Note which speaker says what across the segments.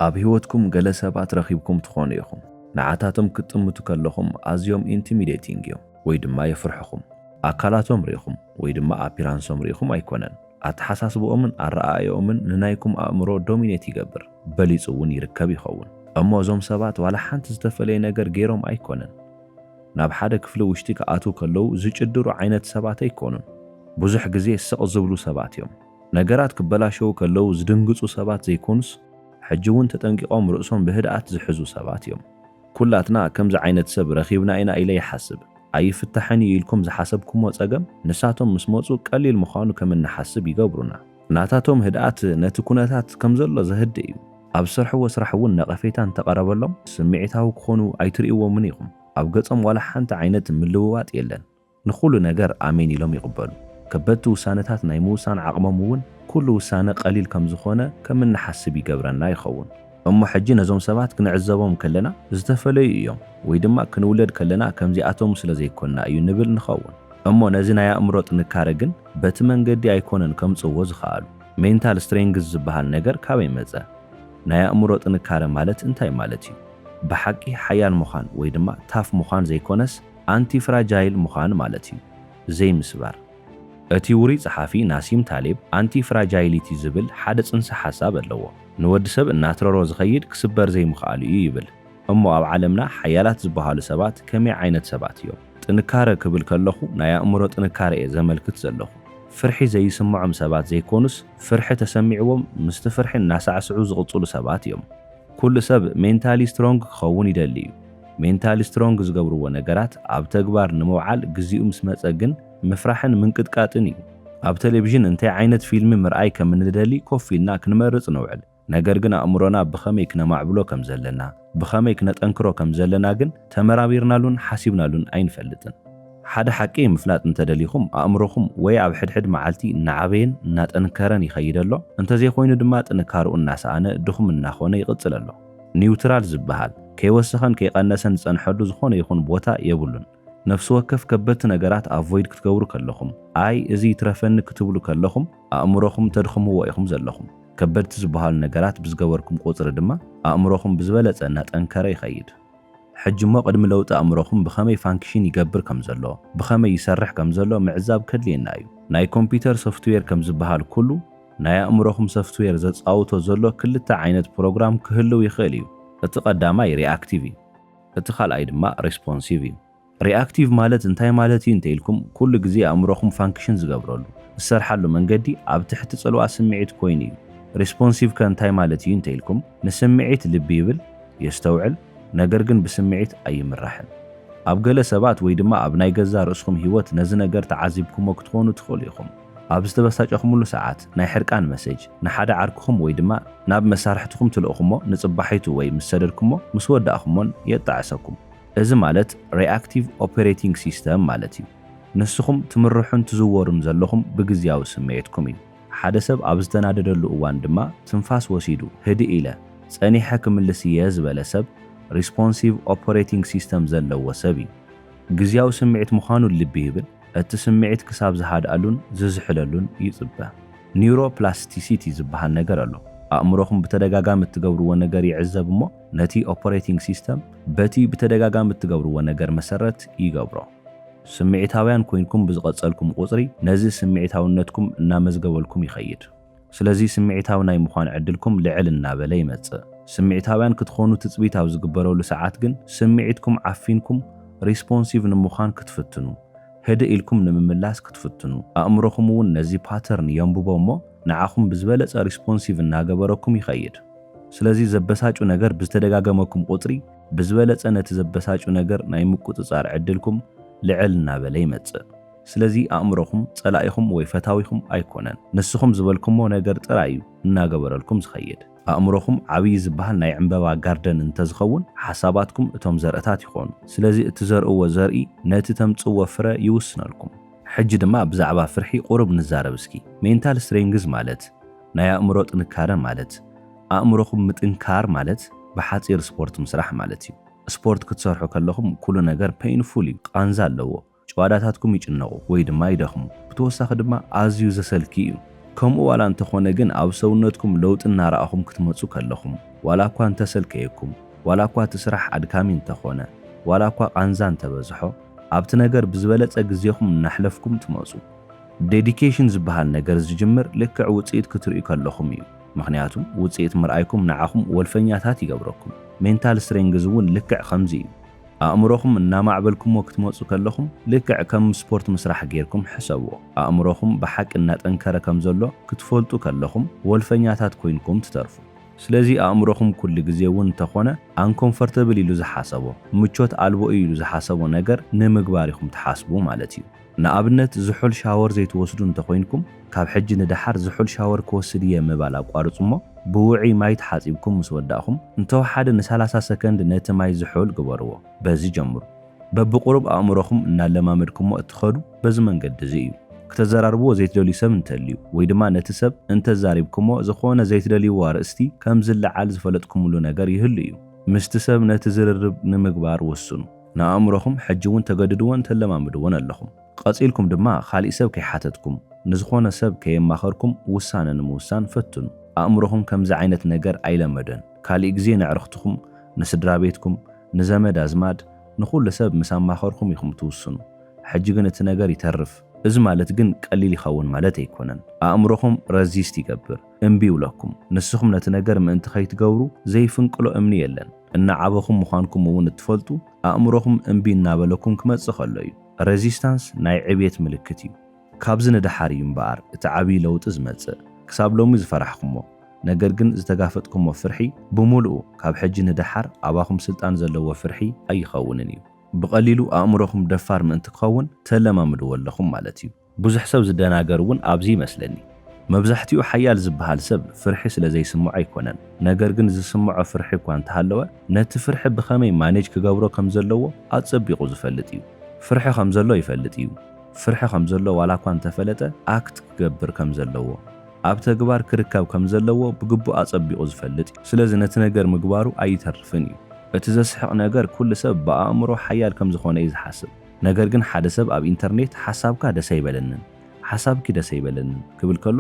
Speaker 1: ኣብ ህይወትኩም ገለ ሰባት ረኺብኩም ትኾኑ ኢኹም፣ ንዓታቶም ክትጥምቱ ከለኹም ኣዝዮም ኢንቲሚደይቲንግ እዮም ወይ ድማ የፍርሑኹም። ኣካላቶም ርኢኹም ወይ ድማ ኣፒራንሶም ርኢኹም ኣይኮነን፣ ኣተሓሳስብኦምን ኣረኣእያኦምን ንናይኩም ኣእምሮ ዶሚኔት ይገብር፣ በሊጹ እውን ይርከብ ይኸውን። እሞ እዞም ሰባት ዋላ ሓንቲ ዝተፈለየ ነገር ገይሮም ኣይኮነን። ናብ ሓደ ክፍሊ ውሽጢ ክኣትዉ ከለዉ ዝጭድሩ ዓይነት ሰባት ኣይኮኑን። ብዙሕ ግዜ ስቕ ዝብሉ ሰባት እዮም። ነገራት ክበላሸዉ ከለዉ ዝድንግጹ ሰባት ዘይኮኑስ፣ ሕጂ ውን ተጠንቂቖም ርእሶም ብህድኣት ዝሕዙ ሰባት እዮም። ኩላትና ከምዚ ዓይነት ሰብ ረኺብና ኢና ኢለ ይሓስብ። ኣይፍታሕን እዩ ኢልኩም ዝሓሰብኩሞ ጸገም ንሳቶም ምስ መጹ ቀሊል ምዃኑ ከም እንሓስብ ይገብሩና። ናታቶም ህድኣት ነቲ ኩነታት ከም ዘሎ ዘህድእ እዩ። ኣብ ዝሰርሕዎ ስራሕ እውን ነቐፌታ እንተ ቀረበሎም ስምዒታዊ ክኾኑ ኣይትርእይዎምን ኢኹም። ኣብ ገጾም ዋላ ሓንቲ ዓይነት ምልውዋጥ የለን። ንኹሉ ነገር ኣሜን ኢሎም ይቕበሉ። ከበድቲ ውሳነታት ናይ ምውሳን ዓቕሞም እውን ኩሉ ውሳነ ቀሊል ከም ዝኾነ ከም እንሓስብ ይገብረና ይኸውን። እሞ ሕጂ ነዞም ሰባት ክንዕዘቦም ከለና ዝተፈለዩ እዮም ወይ ድማ ክንውለድ ከለና ከምዚኣቶም ስለ ዘይኮንና እዩ ንብል ንኸውን። እሞ ነዚ ናይ ኣእምሮ ጥንካረ ግን በቲ መንገዲ ኣይኮነን ከምጽእዎ ዝኸኣሉ። ሜንታል ስትሬንግዝ ዝበሃል ነገር ካበይ መጸ? ናይ ኣእምሮ ጥንካረ ማለት እንታይ ማለት እዩ? ብሓቂ ሓያል ምዃን ወይ ድማ ታፍ ምዃን ዘይኮነስ፣ ኣንቲ ፍራጃይል ምዃን ማለት እዩ፣ ዘይምስባር። እቲ ውሩይ ጸሓፊ ናሲም ታሌብ ኣንቲ ፍራጃይሊቲ ዝብል ሓደ ጽንሰ ሓሳብ ኣለዎ። ንወዲ ሰብ እናትረሮ ዝኸይድ ክስበር ዘይምኽኣሉ እዩ ይብል። እሞ ኣብ ዓለምና ሓያላት ዝበሃሉ ሰባት ከመይ ዓይነት ሰባት እዮም? ጥንካረ ክብል ከለኹ ናይ ኣእምሮ ጥንካረ እየ ዘመልክት ዘለኹ። ፍርሒ ዘይስምዖም ሰባት ዘይኮኑስ ፍርሒ ተሰሚዕዎም ምስቲ ፍርሒ እናሳዕስዑ ዝቕጽሉ ሰባት እዮም። ኩሉ ሰብ ሜንታሊ ስትሮንግ ክኸውን ይደሊ እዩ። ሜንታሊ ስትሮንግ ዝገብርዎ ነገራት ኣብ ተግባር ንምውዓል ግዚኡ ምስ መጸ ግን ምፍራሕን ምንቅጥቃጥን እዩ። ኣብ ተሌቪዥን እንታይ ዓይነት ፊልሚ ምርኣይ ከም እንደሊ ኮፍ ኢልና ክንመርጽ ንውዕል። ነገር ግን ኣእምሮና ብኸመይ ክነማዕብሎ ከም ዘለና፣ ብኸመይ ክነጠንክሮ ከም ዘለና ግን ተመራሚርናሉን ሓሲብናሉን ኣይንፈልጥን። ሓደ ሓቂ ምፍላጥ እንተ ደሊኹም፣ ኣእምሮኹም ወይ ኣብ ሕድሕድ መዓልቲ እናዓበየን እናጠንከረን ይኸይድ ኣሎ፣ እንተዘይኮይኑ ድማ ጥንካርኡ እናሰኣነ ድኹም እናኾነ ይቕጽል ኣሎ። ኒውትራል ዝበሃል፣ ከይወሰኸን ከይቐነሰን ዝጸንሐሉ ዝኾነ ይኹን ቦታ የብሉን። ነፍሲ ወከፍ ከበድቲ ነገራት ኣቮይድ ክትገብሩ ከለኹም፣ ኣይ እዚ ይትረፈኒ ክትብሉ ከለኹም፣ ኣእምሮኹም ተድኽምዎ ኢኹም ዘለኹም። ከበድቲ ዝበሃሉ ነገራት ብዝገበርኩም ቁጽሪ ድማ፣ ኣእምሮኹም ብዝበለጸ እናጠንከረ ይኸይድ። ሕጂ እሞ ቅድሚ ለውጢ ኣእምሮኹም ብኸመይ ፋንክሽን ይገብር ከም ዘሎ፣ ብኸመይ ይሰርሕ ከም ዘሎ ምዕዛብ ከድልየና እዩ። ናይ ኮምፒተር ሶፍትዌር ከም ዝበሃል ኩሉ ናይ ኣእምሮኹም ሰፍትዌር ዘጻውቶ ዘሎ ክልተ ዓይነት ፕሮግራም ክህልው ይኽእል እዩ። እቲ ቀዳማይ ሪኣክቲቭ እዩ። እቲ ካልኣይ ድማ ሪስፖንሲቭ እዩ። ሪኣክቲቭ ማለት እንታይ ማለት እዩ እንተ ኢልኩም፣ ኩሉ ግዜ ኣእምሮኹም ፋንክሽን ዝገብረሉ፣ ዝሰርሓሉ፣ መንገዲ ኣብ ትሕቲ ጽልዋ ስምዒት ኮይኑ እዩ። ሪስፖንሲቭ ከ እንታይ ማለት እዩ እንተ ኢልኩም፣ ንስምዒት ልቢ ይብል፣ የስተውዕል፣ ነገር ግን ብስምዒት ኣይምራሕን። ኣብ ገለ ሰባት ወይ ድማ ኣብ ናይ ገዛእ ርእስኹም ህይወት ነዚ ነገር ተዓዚብኩሞ ክትኾኑ ትኽእሉ ኢኹም። ኣብ ዝተበሳጨኹምሉ ሰዓት፣ ናይ ሕርቃን መሴጅ ንሓደ ዓርክኹም ወይ ድማ ናብ መሳርሕትኹም ትልእኹሞ፣ ንጽባሒቱ ወይ ምስ ሰደድኩሞ፣ ምስ ወዳእኩሞን የጣዕሰኩም። እዚ ማለት ሪኣክቲቭ ኦፐሬቲንግ ሲስተም ማለት እዩ። ንስኹም ትምርሑን ትዝወሩን ዘለኹም ብግዝያዊ ስምዒትኩም እዩ። ሓደ ሰብ ኣብ ዝተናደደሉ እዋን ድማ ትንፋስ ወሲዱ ህድእ ኢለ ጸኒሐ ክምልስ እየ ዝበለ ሰብ ሪስፖንሲቭ ኦፐሬቲንግ ሲስተም ዘለዎ ሰብ እዩ። ግዝያዊ ስምዒት ምዃኑ ልቢ ይብል፣ እቲ ስምዒት ክሳብ ዝሃድኣሉን ዝዝሕለሉን ይጽበ። ኒውሮፕላስቲሲቲ ዝበሃል ነገር ኣሎ። ኣእምሮኹም ብተደጋጋሚ እትገብርዎ ነገር ይዕዘብ እሞ ነቲ ኦፐሬቲንግ ሲስተም በቲ ብተደጋጋሚ እትገብርዎ ነገር መሰረት ይገብሮ። ስምዒታውያን ኮይንኩም ብዝቐጸልኩም ቁጽሪ ነዚ ስምዒታውነትኩም እናመዝገበልኩም ይኸይድ። ስለዚ ስምዒታዊ ናይ ምዃን ዕድልኩም ልዕል እናበለ ይመጽእ። ስምዒታውያን ክትኾኑ ትጽቢት ኣብ ዝግበረሉ ሰዓት ግን ስምዒትኩም ዓፊንኩም ሪስፖንሲቭ ንምዃን ክትፍትኑ፣ ህድእ ኢልኩም ንምምላስ ክትፍትኑ፣ ኣእምሮኹም እውን ነዚ ፓተርን የንብቦ እሞ ንዓኹም ብዝበለጸ ሪስፖንሲቭ እናገበረኩም ይኸይድ። ስለዚ ዘበሳጩ ነገር ብዝተደጋገመኩም ቁጽሪ ብዝበለጸ ነቲ ዘበሳጩ ነገር ናይ ምቁጽጻር ዕድልኩም ልዕል እናበለ ይመጽእ። ስለዚ ኣእምሮኹም ጸላኢኹም ወይ ፈታዊኹም ኣይኮነን። ንስኹም ዝበልኩሞ ነገር ጥራይ እዩ እናገበረልኩም ዝኸይድ። ኣእምሮኹም ዓብዪ ዝበሃል ናይ ዕንበባ ጋርደን እንተዝኸውን ሓሳባትኩም እቶም ዘርእታት ይኾኑ። ስለዚ እትዘርእዎ ዘርኢ ነቲ ተምጽእዎ ፍረ ይውስነልኩም። ሕጂ ድማ ብዛዕባ ፍርሒ ቁሩብ ንዛረብ እስኪ። ሜንታል ስትሬንግዝ ማለት፣ ናይ ኣእምሮ ጥንካረ ማለት ኣእምሮኹም ምጥንካር ማለት ብሓጺር ስፖርት ምስራሕ ማለት እዩ። ስፖርት ክትሰርሑ ከለኹም ኩሉ ነገር ፐይንፉል እዩ፣ ቃንዛ ኣለዎ። ጭዋዳታትኩም ይጭነቑ ወይ ድማ ይደኽሙ፣ ብተወሳኺ ድማ ኣዝዩ ዘሰልኪ እዩ። ከምኡ ዋላ እንተኾነ ግን ኣብ ሰውነትኩም ለውጢ እናረኣኹም ክትመጹ ከለኹም፣ ዋላ እኳ እንተሰልከየኩም፣ ዋላ እኳ እቲ ስራሕ ኣድካሚ እንተኾነ፣ ዋላ እኳ ቃንዛ እንተበዝሖ፣ ኣብቲ ነገር ብዝበለጸ ግዜኹም እናሕለፍኩም ትመጹ። ዴዲኬሽን ዝበሃል ነገር ዝጅምር ልክዕ ውጽኢት ክትርእዩ ከለኹም እዩ። ምኽንያቱ ውጽኢት ምርኣይኩም ንዓኹም ወልፈኛታት ይገብረኩም። ሜንታል ስትሬንግዝ እውን ልክዕ ከምዚ እዩ። ኣእምሮኹም እናማዕበልኩምዎ ክትመጹ ከለኹም ልክዕ ከም ስፖርት ምስራሕ ጌርኩም ሕሰብዎ። ኣእምሮኹም ብሓቂ እናጠንከረ ከም ዘሎ ክትፈልጡ ከለኹም ወልፈኛታት ኮይንኩም ትተርፉ። ስለዚ ኣእምሮኹም ኩሉ ግዜ እውን እንተኾነ ኣንኮምፈርተብል ኢሉ ዝሓሰቦ፣ ምቾት ኣልቦ እዩ ኢሉ ዝሓሰቦ ነገር ንምግባር ኢኹም ትሓስቡ ማለት እዩ። ንኣብነት ዝሑል ሻወር ዘይትወስዱ እንተኾይንኩም ካብ ሕጂ ንደሓር ዝሑል ሻወር ክወስድ እየ ምባል ኣቋርጹ እሞ ብውዑይ ማይ ተሓጺብኩም ምስ ወዳእኹም እንተወሓደ ንሰላሳ ሰከንድ ነቲ ማይ ዝሑል ግበርዎ በዚ ጀምሩ በብቁሩብ ኣእምሮኹም እናለማመድኩሞ እትኸዱ በዚ መንገዲ እዚ እዩ። ክተዘራርብዎ ዘይትደልዩ ሰብ እንተልዩ ወይ ድማ ነቲ ሰብ እንተዛሪብኩሞ ዝኾነ ዘይትደልይዎ ኣርእስቲ ከምዝለዓል ዝፈለጥኩምሉ ነገር ይህሉ እዩ ምስቲ ሰብ ነቲ ዝርርብ ንምግባር ወስኑ። ንኣእምሮኹም ሕጂ እውን ተገድድዎን ተለማምድዎን ኣለኹም። ቐጺልኩም ድማ ኻሊእ ሰብ ከይሓተትኩም፣ ንዝኾነ ሰብ ከየማኸርኩም ውሳነ ንምውሳን ፈትኑ። ኣእምሮኹም ከምዚ ዓይነት ነገር ኣይለመደን። ካሊእ ግዜ ነዕርኽትኹም፣ ንስድራቤትኩም፣ ንዘመድ ኣዝማድ፣ ንኹሉ ሰብ ምስ ኣማኸርኹም ኢኹም ትውስኑ። ሕጂ ግን እቲ ነገር ይተርፍ። እዚ ማለት ግን ቀሊል ይኸውን ማለት ኣይኮነን። ኣእምሮኹም ረዚስት ይገብር፣ እምቢ ይብለኩም። ንስኹም ነቲ ነገር ምእንቲ ከይትገብሩ ዘይፍንቅሎ እምኒ የለን። እናዓበኹም ምዃንኩም እውን እትፈልጡ፣ ኣእምሮኹም እምቢ እናበለኩም ክመጽእ ከሎ እዩ። ረዚስታንስ ናይ ዕብየት ምልክት እዩ። ካብዚ ንደሓር እዩ እምበኣር እቲ ዓብዪ ለውጢ ዝመጽእ። ክሳብ ሎሚ ዝፈራሕኩሞ፣ ነገር ግን ዝተጋፈጥኩሞ ፍርሒ፣ ብምሉኡ ካብ ሕጂ ንደሓር ኣባኹም ስልጣን ዘለዎ ፍርሒ ኣይኸውንን እዩ። ብቐሊሉ ኣእምሮኹም ደፋር ምእንቲ ክኸውን ተለማምድዎ ኣለኹም ማለት እዩ። ብዙሕ ሰብ ዝደናገር እውን ኣብዚ ይመስለኒ። መብዛሕትኡ ሓያል ዝበሃል ሰብ ፍርሒ ስለ ዘይስምዖ ኣይኮነን፣ ነገር ግን ዝስምዖ ፍርሒ እኳ እንተሃለወ ነቲ ፍርሒ ብኸመይ ማኔጅ ክገብሮ ከም ዘለዎ ኣጸቢቑ ዝፈልጥ እዩ። ፍርሒ ከም ዘሎ ይፈልጥ እዩ። ፍርሒ ከም ዘሎ ዋላ እኳ እንተፈለጠ ኣክት ክገብር ከም ዘለዎ፣ ኣብ ተግባር ክርከብ ከም ዘለዎ ብግቡእ ኣጸቢቑ ዝፈልጥ እዩ። ስለዚ ነቲ ነገር ምግባሩ ኣይተርፍን እዩ። እቲ ዘስሕቕ ነገር ኩሉ ሰብ ብኣእምሮ ሓያል ከም ዝኾነ እዩ ዝሓስብ። ነገር ግን ሓደ ሰብ ኣብ ኢንተርኔት ሓሳብካ ደስ ኣይበለንን፣ ሓሳብኪ ደስ ኣይበለንን ክብል ከሎ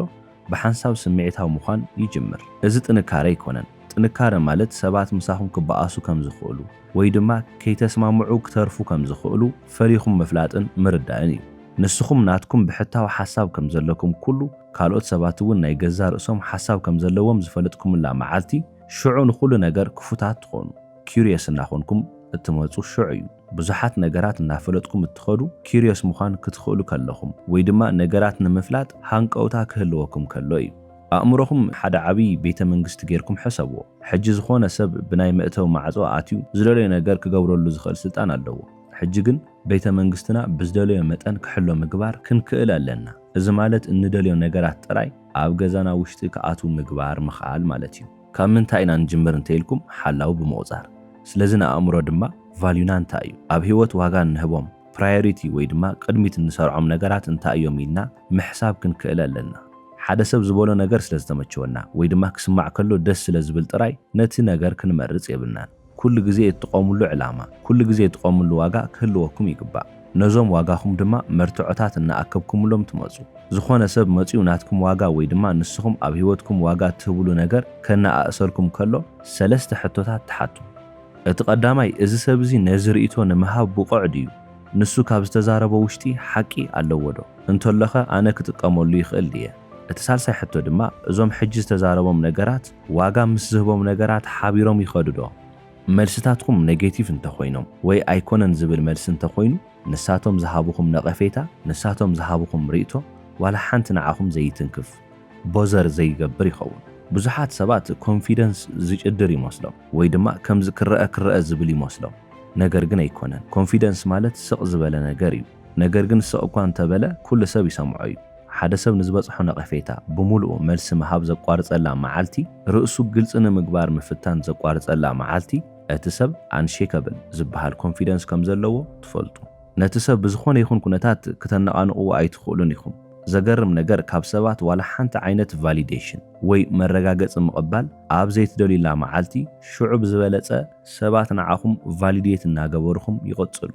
Speaker 1: ብሓንሳብ ስምዒታዊ ምዃን ይጅምር። እዚ ጥንካረ ኣይኮነን። ጥንካረ ማለት ሰባት ምሳኹም ክበኣሱ ከም ዝኽእሉ ወይ ድማ ከይተስማምዑ ክተርፉ ከም ዝኽእሉ ፈሊኹም ምፍላጥን ምርዳእን እዩ። ንስኹም ናትኩም ብሕታዊ ሓሳብ ከም ዘለኩም ኩሉ ካልኦት ሰባት እውን ናይ ገዛእ ርእሶም ሓሳብ ከም ዘለዎም ዝፈለጥኩምላ መዓልቲ ሽዑ ንኹሉ ነገር ክፉታት ትኾኑ። Curious እናኾንኩም እትመጹ ሽዑ እዩ። ብዙሓት ነገራት እናፈለጥኩም እትኸዱ ኪርዮስ ምዃን ክትኽእሉ ከለኹም ወይ ድማ ነገራት ንምፍላጥ ሃንቀውታ ክህልወኩም ከሎ እዩ። ኣእምሮኹም ሓደ ዓብይ ቤተ መንግስቲ ጌርኩም ሕሰብዎ። ሕጂ ዝኾነ ሰብ ብናይ መእተዊ ማዕጾ ኣትዩ ዝደለዮ ነገር ክገብረሉ ዝኽእል ስልጣን ኣለዎ። ሕጂ ግን ቤተ መንግስትና ብዝደለዮ መጠን ክሕሎ ምግባር ክንክእል ኣለና። እዚ ማለት እንደልዮ ነገራት ጥራይ ኣብ ገዛና ውሽጢ ክኣትዉ ምግባር ምኽኣል ማለት እዩ። ካብ ምንታይ ኢና ንጅምር እንተ ኢልኩም ሓላዊ ብምቑጻር። ስለዚ ንኣእምሮ ድማ ቫልዩና እንታይ እዩ? ኣብ ህይወት ዋጋ እንህቦም፣ ፕራዮሪቲ፣ ወይ ድማ ቅድሚት እንሰርዖም ነገራት እንታይ እዮም ኢልና ምሕሳብ ክንክእል ኣለና። ሓደ ሰብ ዝበሎ ነገር ስለ ዝተመቸወና ወይ ድማ ክስማዕ ከሎ ደስ ስለ ዝብል ጥራይ ነቲ ነገር ክንመርጽ የብልናን። ኩሉ ግዜ እትቆምሉ ዕላማ፣ ኩሉ ግዜ እትቆምሉ ዋጋ ክህልወኩም ይግባእ። ነዞም ዋጋኹም ድማ መርትዖታት እናኣከብኩምሎም ትመጹ። ዝኾነ ሰብ መጺኡ ናትኩም ዋጋ ወይ ድማ ንስኹም ኣብ ህይወትኩም ዋጋ እትህብሉ ነገር ከነኣእሰልኩም ከሎ ሰለስተ ሕቶታት ትሓቱ። እቲ ቀዳማይ እዚ ሰብ እዚ ነዚ ርእይቶ ንምሃብ ብቑዕ ድዩ? ንሱ ካብ ዝተዛረቦ ውሽጢ ሓቂ ኣለዎ ዶ? እንተሎኸ ኣነ ክጥቀመሉ ይኽእል ድየ? እቲ ሳልሳይ ሕቶ ድማ እዞም ሕጂ ዝተዛረቦም ነገራት ዋጋ ምስ ዝህቦም ነገራት ሓቢሮም ይኸዱ ዶ? መልስታትኩም ነጌቲቭ እንተኾይኖም ወይ ኣይኮነን ዝብል መልሲ እንተኾይኑ ንሳቶም ዝሃቡኹም ነቐፌታ ንሳቶም ዝሃቡኹም ሪእቶ ዋላ ሓንቲ ንዓኹም ዘይትንክፍ፣ ቦዘር ዘይገብር፣ ይኸውን። ብዙሓት ሰባት ኮንፊደንስ ዝጭድር ይመስሎም ወይ ድማ ከምዚ ክረኣ ክረኣ ዝብል ይመስሎም ነገር ግን ኣይኮነን። ኮንፊደንስ ማለት ስቕ ዝበለ ነገር እዩ ነገር ግን ስቕ እኳ እንተበለ ኩሉ ሰብ ይሰምዖ እዩ። ሓደ ሰብ ንዝበጽሖ ነቐፌታ ብምሉኡ መልሲ ምሃብ ዘቋርጸላ መዓልቲ፣ ርእሱ ግልጺ ንምግባር ምፍታን ዘቋርጸላ መዓልቲ፣ እቲ ሰብ ኣንሼከብል ዝበሃል ኮንፊደንስ ከም ዘለዎ ትፈልጡ። ነቲ ሰብ ብዝኾነ ይኹን ኩነታት ክተነቓንቕዎ ኣይትኽእሉን ኢኹም። ዘገርም ነገር ካብ ሰባት ዋላ ሓንቲ ዓይነት ቫሊዴሽን ወይ መረጋገጺ ምቕባል ኣብ ዘይትደልዩላ መዓልቲ፣ ሽዑ ብዝበለጸ፣ ሰባት ንዓኹም ቫሊዴት እናገበሩኹም ይቕፅሉ።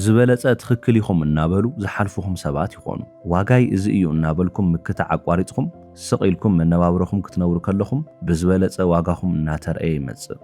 Speaker 1: ዝበለፀ ትኽክል ኢኹም እናበሉ ዝሓልፉኹም ሰባት ይኾኑ። ዋጋይ እዚ እዩ እናበልኩም ምክታዕ ኣቋሪፅኹም ስቕ ኢልኩም መነባብሮኹም ክትነብሩ ከለኹም ብዝበለፀ ዋጋኹም እናተርኣየ ይመፅእ።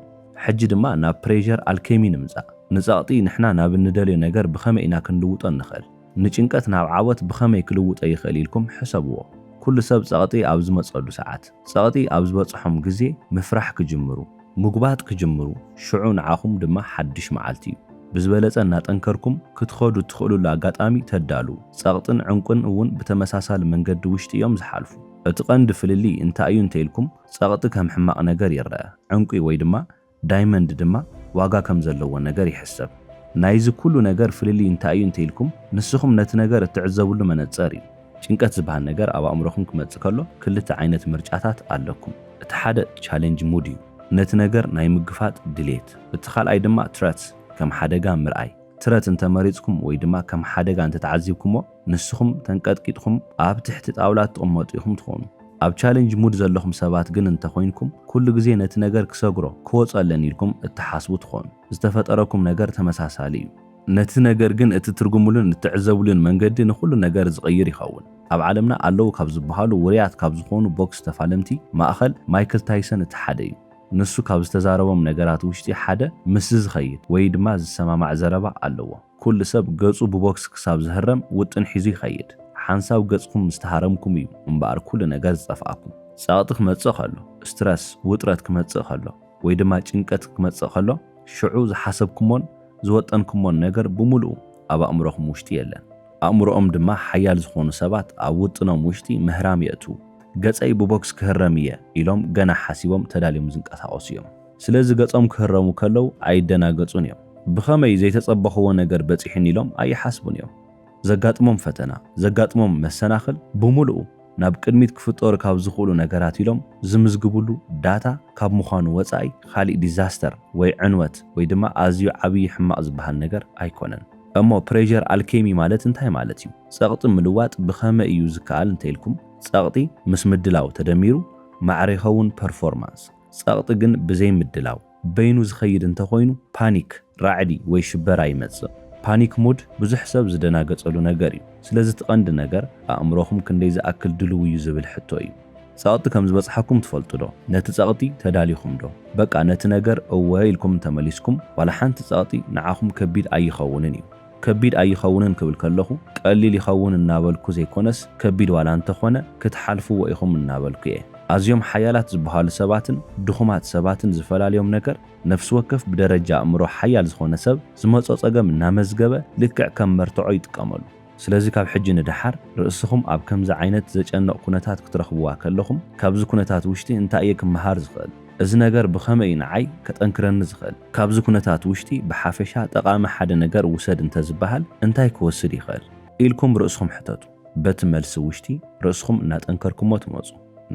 Speaker 1: ሕጂ ድማ ናብ ፕሬዠር ኣልኬሚ ንምፃእ። ንፀቕጢ ንሕና ናብ እንደልዮ ነገር ብኸመይ ኢና ክንልውጦ እንኽእል? ንጭንቀት ናብ ዓወት ብኸመይ ክልውጦ ይኽእል ኢልኩም ሕሰብዎ። ኩሉ ሰብ ፀቕጢ ኣብ ዝመፀሉ ሰዓት፣ ፀቕጢ ኣብ ዝበፅሖም ግዜ ምፍራሕ ክጅምሩ። ምጉባጥ ክጅምሩ ሽዑ ንዓኹም ድማ ሓድሽ መዓልቲ እዩ። ብዝበለጸ እናጠንከርኩም ክትኸዱ እትኽእሉሉ ኣጋጣሚ ተዳልዉ። ጸቕጥን ዕንቊን እውን ብተመሳሳሊ መንገዲ ውሽጢ እዮም ዝሓልፉ። እቲ ቀንዲ ፍልልይ እንታይ እዩ እንተኢልኩም፣ ጸቕጢ ከም ሕማቕ ነገር ይረኣ፣ ዕንቊ ወይ ድማ ዳይመንድ ድማ ዋጋ ከም ዘለዎ ነገር ይሕሰብ። ናይዚ ኩሉ ነገር ፍልልይ እንታይ እዩ እንተኢልኩም፣ ንስኹም ነቲ ነገር እትዕዘብሉ መነጸር እዩ። ጭንቀት ዝብሃል ነገር ኣብ ኣእምሮኹም ክመጽእ ከሎ ክልተ ዓይነት ምርጫታት ኣለኩም። እቲ ሓደ ቻሌንጅ ሙድ እዩ፣ ነቲ ነገር ናይ ምግፋጥ ድሌት። እቲ ካልኣይ ድማ ትረት፣ ከም ሓደጋ ምርኣይ። ትረት እንተ መሪጽኩም ወይ ድማ ከም ሓደጋ እንተ ተዓዚብኩሞ ንስኹም ተንቀጥቂጥኩም ኣብ ትሕቲ ጣውላ ትቕመጡ ኢኹም ትኾኑ። ኣብ ቻሌንጅ ሙድ ዘለኹም ሰባት ግን እንተ ኮይንኩም ኩሉ ግዜ ነቲ ነገር ክሰግሮ፣ ክወጾ ኣለኒ ኢልኩም እትሓስቡ ትኾኑ። ዝተፈጠረኩም ነገር ተመሳሳሊ እዩ። ነቲ ነገር ግን እትትርጉምሉን እትዕዘብሉን መንገዲ ንኹሉ ነገር ዝቕይር ይኸውን። ኣብ ዓለምና ኣለዉ ካብ ዝበሃሉ ውርያት ካብ ዝኾኑ ቦክስ ተፋለምቲ ማእኸል ማይክል ታይሰን እቲ ሓደ እዩ። ንሱ ካብ ዝተዛረቦም ነገራት ውሽጢ ሓደ ምስዚ ዝኸይድ ወይ ድማ ዝሰማማዕ ዘረባ ኣለዎ። ኩሉ ሰብ ገፁ ብቦክስ ክሳብ ዝህረም ውጥን ሒዙ ይኸይድ። ሓንሳብ ገፅኩም ምስ ተሃረምኩም እዩ እምበኣር ኩሉ ነገር ዝጠፍኣኩም። ፀቕጢ ክመፅእ ከሎ፣ Stress፣ ውጥረት ክመፅእ ከሎ፣ ወይ ድማ ጭንቀት ክመጽእ ከሎ፣ ሽዑ ዝሓሰብኩሞን ዝወጠንኩሞን ነገር ብምሉኡ ኣብ ኣእምሮኹም ውሽጢ የለን። ኣእምሮኦም ድማ ሓያል ዝኾኑ ሰባት ኣብ ውጥኖም ውሽጢ ምህራም የእትዉ። ገጸይ ብቦክስ ክህረም እየ ኢሎም ገና ሓሲቦም ተዳልዮም ዝንቀሳቐሱ እዮም። ስለዚ ገጾም ክህረሙ ከለዉ ኣይደናገጹን እዮም። ብኸመይ ዘይተጸበኹዎ ነገር በጺሑኒ ኢሎም ኣይሓስቡን እዮም። ዘጋጥሞም ፈተና፣ ዘጋጥሞም መሰናኽል ብምሉኡ ናብ ቅድሚት ክፍጠሩ ካብ ዝኽእሉ ነገራት ኢሎም ዝምዝግብሉ ዳታ ካብ ምዃኑ ወፃኢ ኻሊእ ዲዛስተር ወይ ዕንወት ወይ ድማ ኣዝዩ ዓብዪ ሕማቕ ዝበሃል ነገር ኣይኮነን። እሞ ፕሬዠር ኣልኬሚ ማለት እንታይ ማለት እዩ? ፀቕጢ ምልዋጥ ብኸመይ እዩ ዝከኣል እንተይልኩም ፀቕጢ ምስ ምድላው ተደሚሩ ማዕረ ይኸውን፣ ፐርፎርማንስ። ፀቕጢ ግን ብዘይ ምድላው። በይኑ ዝኸይድ እንተኾይኑ ፓኒክ፣ ራዕዲ፣ ወይ ሽበራ ይመጽእ። ፓኒክ ሙድ ብዙሕ ሰብ ዝደናገጸሉ ነገር እዩ። ስለዚ እቲ ቀንዲ ነገር ኣእምሮኹም ክንደይ ዝኣክል ድሉው እዩ ዝብል ሕቶ እዩ። ጸቕጢ ከም ዝበጽሓኩም ትፈልጡዶ? ነቲ ጸቕጢ ተዳሊኹምዶ? በቃ ነቲ ነገር እወ ኢልኩም እንተመሊስኩም ዋላ ሓንቲ ጸቕጢ ንዓኹም ከቢድ ኣይኸውንን እዩ። ከቢድ ኣይኸውንን ክብል ከለኹ ቀሊል ይኸውን እናበልኩ ዘይኮነስ ከቢድ ዋላ እንተኾነ ክትሓልፍዎ ኢኹም እናበልኩ እየ። ኣዝዮም ሓያላት ዝበሃሉ ሰባትን ድኹማት ሰባትን ዝፈላልዮም ነገር ነፍሲ ወከፍ ብደረጃ ኣእምሮ ሓያል ዝኾነ ሰብ ዝመጾ ጸገም እናመዝገበ ልክዕ ከም መርትዖ ይጥቀመሉ። ስለዚ ካብ ሕጂ ንደሓር ርእስኹም ኣብ ከምዚ ዓይነት ዘጨንቕ ኩነታት ክትረኽብዋ ከለኹም ካብዚ ኩነታት ውሽጢ እንታይ እየ ክመሃር ዝኽእል? እዚ ነገር ብኸመይ እዩ ንዓይ ከጠንክረኒ ዝኽእል? ካብዚ ኵነታት ውሽጢ ብሓፈሻ ጠቓሚ ሓደ ነገር ውሰድ እንተ ዝበሃል እንታይ ክወስድ ይኽእል? ኢልኩም ርእስኹም ሕተቱ። በቲ መልሲ ውሽጢ ርእስኹም እናጠንከርኩሞ ትመጹ።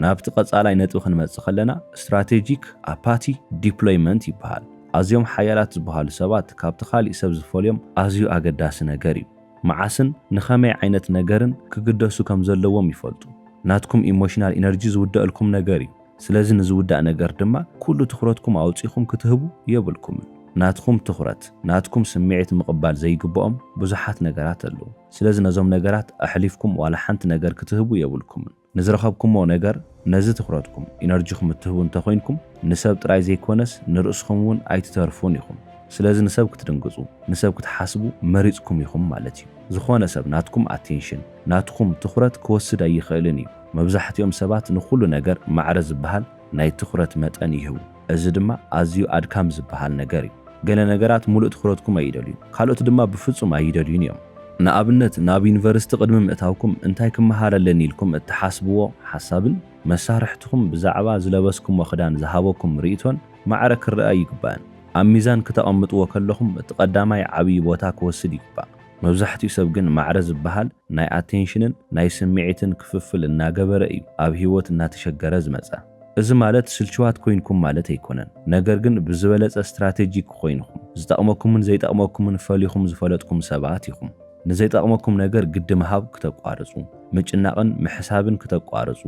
Speaker 1: ናብቲ ቀጻላይ ነጥቢ ክንመጽእ ከለና Strategic Apathy Deployment ይበሃል። ኣዝዮም ሓያላት ዝበሃሉ ሰባት ካብቲ ካልእ ሰብ ዝፈልዮም ኣዝዩ ኣገዳሲ ነገር እዩ። መዓስን ንኸመይ ዓይነት ነገርን ክግደሱ ከም ዘለዎም ይፈልጡ። ናትኩም ኢሞሽናል ኢነርጂ ዝውደኣልኩም ነገር እዩ። ስለዚ ንዝውዳእ ነገር ድማ ኩሉ ትኹረትኩም ኣውጺኹም ክትህቡ የብልኩምን። ናትኹም ትኹረት፣ ናትኩም ስምዒት ምቕባል ዘይግብኦም ብዙሓት ነገራት ኣለዉ። ስለዚ ነዞም ነገራት ኣሕሊፍኩም ዋላ ሓንቲ ነገር ክትህቡ የብልኩምን። ንዝረኸብኩሞ ነገር ነዚ ትኹረትኩም፣ ኢነርጂኹም እትህቡ እንተኾይንኩም ንሰብ ጥራይ ዘይኮነስ ንርእስኹም እውን ኣይትተርፉን ኢኹም። ስለዚ ንሰብ ክትድንግጹ፣ ንሰብ ክትሓስቡ መሪጽኩም ኢኹም ማለት እዩ። ዝኾነ ሰብ ናትኩም ኣቴንሽን፣ ናትኹም ትኹረት ክወስድ ኣይኽእልን እዩ። መብዛሕትኦም ሰባት ንኹሉ ነገር ማዕረ ዝበሃል ናይ ትኹረት መጠን ይህቡ፣ እዚ ድማ ኣዝዩ ኣድካሚ ዝበሃል ነገር እዩ። ገለ ነገራት ምሉእ ትኹረትኩም ኣይደልዩን፣ ካልኦት ድማ ብፍጹም ኣይደልዩን እዮም። ንኣብነት፣ ናብ ዩኒቨርሲቲ ቅድሚ ምእታውኩም እንታይ ክመሃር ኣለኒ ኢልኩም እትሓስብዎ ሓሳብን መሳርሕትኹም ብዛዕባ ዝለበስኩሞ ክዳን ዝሃበኩም ርእይቶን ማዕረ ክርኣ ኣይግባእን። ኣብ ሚዛን ክተቐምጥዎ ከለኹም እቲ ቀዳማይ ዓብዪ ቦታ ክወስድ ይግባእ። መብዛሕትኡ ሰብ ግን ማዕረ ዝበሃል ናይ ኣቴንሽንን ናይ ስምዒትን ክፍፍል እናገበረ እዩ ኣብ ህይወት እናተሸገረ ዝመፀ። እዚ ማለት ስልችዋት ኮይንኩም ማለት ኣይኮነን፣ ነገር ግን ብዝበለፀ ስትራቴጂክ ኮይንኹም፣ ዝጠቕመኩምን ዘይጠቕመኩምን ፈሊኹም ዝፈለጥኩም ሰባት ኢኹም። ንዘይጠቕመኩም ነገር ግዲ ምሃብ ክተቋርፁ፣ ምጭናቕን ምሕሳብን ክተቋርፁ፣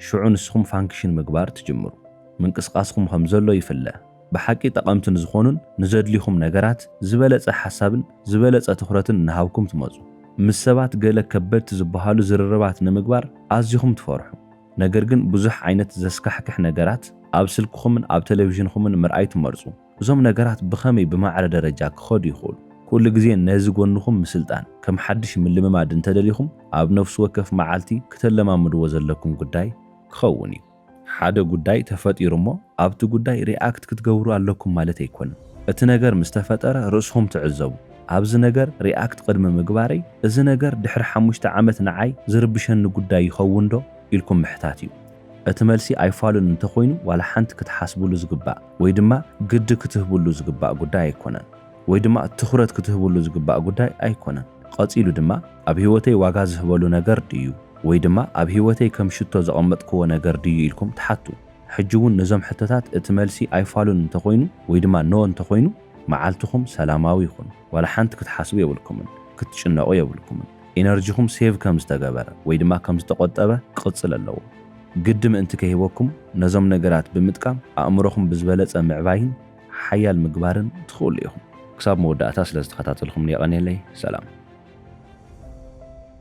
Speaker 1: ሽዑ ንስኹም ፋንክሽን ምግባር ትጅምሩ። ምንቅስቓስኹም ከምዘሎ ይፍለ። ብሓቂ ጠቐምቲ ንዝኾኑን ንዘድልዩኹም ነገራት ዝበለጸ ሓሳብን ዝበለጸ ትኹረትን እናሃብኩም ትመጹ። ምስ ሰባት ገለ ከበድቲ ዝበሃሉ ዝርርባት ንምግባር ኣዚኹም ትፈርሑ። ነገር ግን ብዙሕ ዓይነት ዘስካሕክሕ ነገራት ኣብ ስልክኹምን ኣብ ተለቪዥንኹምን ምርኣይ ትመርጹ። እዞም ነገራት ብኸመይ ብማዕረ ደረጃ ክኸዱ ይኽእሉ? ኩሉ ግዜ ነዚ ጎንኹም ምስልጣን ከም ሓድሽ ምልምማድ እንተደሊኹም ኣብ ነፍሲ ወከፍ መዓልቲ ክተለማምድዎ ዘለኩም ጉዳይ ክኸውን እዩ። ሓደ ጉዳይ ተፈጢሩ እሞ ኣብቲ ጉዳይ ሪኣክት ክትገብሩ ኣለኩም ማለት ኣይኮነን። እቲ ነገር ምስ ተፈጠረ ርእስኹም ትዕዘቡ። ኣብዚ ነገር ሪኣክት ቅድሚ ምግባረይ እዚ ነገር ድሕሪ ሓሙሽተ ዓመት ንዓይ ዝርብሸኒ ጉዳይ ይኸውንዶ? ኢልኩም ምሕታት እዩ። እቲ መልሲ ኣይፋሉን እንተኾይኑ ዋላ ሓንቲ ክትሓስብሉ ዝግባእ ወይ ድማ ግዲ ክትህብሉ ዝግባእ ጉዳይ ኣይኮነን። ወይ ድማ ትኹረት ክትህብሉ ዝግባእ ጉዳይ ኣይኮነን። ቐፂሉ ድማ። ኣብ ህይወተይ ዋጋ ዝህበሉ ነገር ድዩ ወይ ድማ ኣብ ህይወተይ ከም ሽቶ ዘቐመጥክዎ ነገር ድዩ ኢልኩም ትሓቱ። ሕጂ እውን ነዞም ሕቶታት እቲ መልሲ ኣይፋሉን እንተኾይኑ ወይ ድማ No እንተኾይኑ መዓልትኹም ሰላማዊ ይኹን። ዋላ ሓንቲ ክትሓስቡ የብልኩምን። ክትጭነቑ የብልኩምን። ኢነርጂኹም ሴቭ ከም ዝተገበረ ወይ ድማ ከም ዝተቖጠበ ክቕፅል ኣለዎ። ግዲ ምእንቲ ከይህበኩም ነዞም ነገራት ብምጥቃም ኣእምሮኹም ብዝበለፀ ምዕባይን ሓያል ምግባርን ትኽእሉ ኢኹም። ክሳብ መወዳእታ ስለዝተኸታተልኹምኒ የቐኔለይ። ሰላም።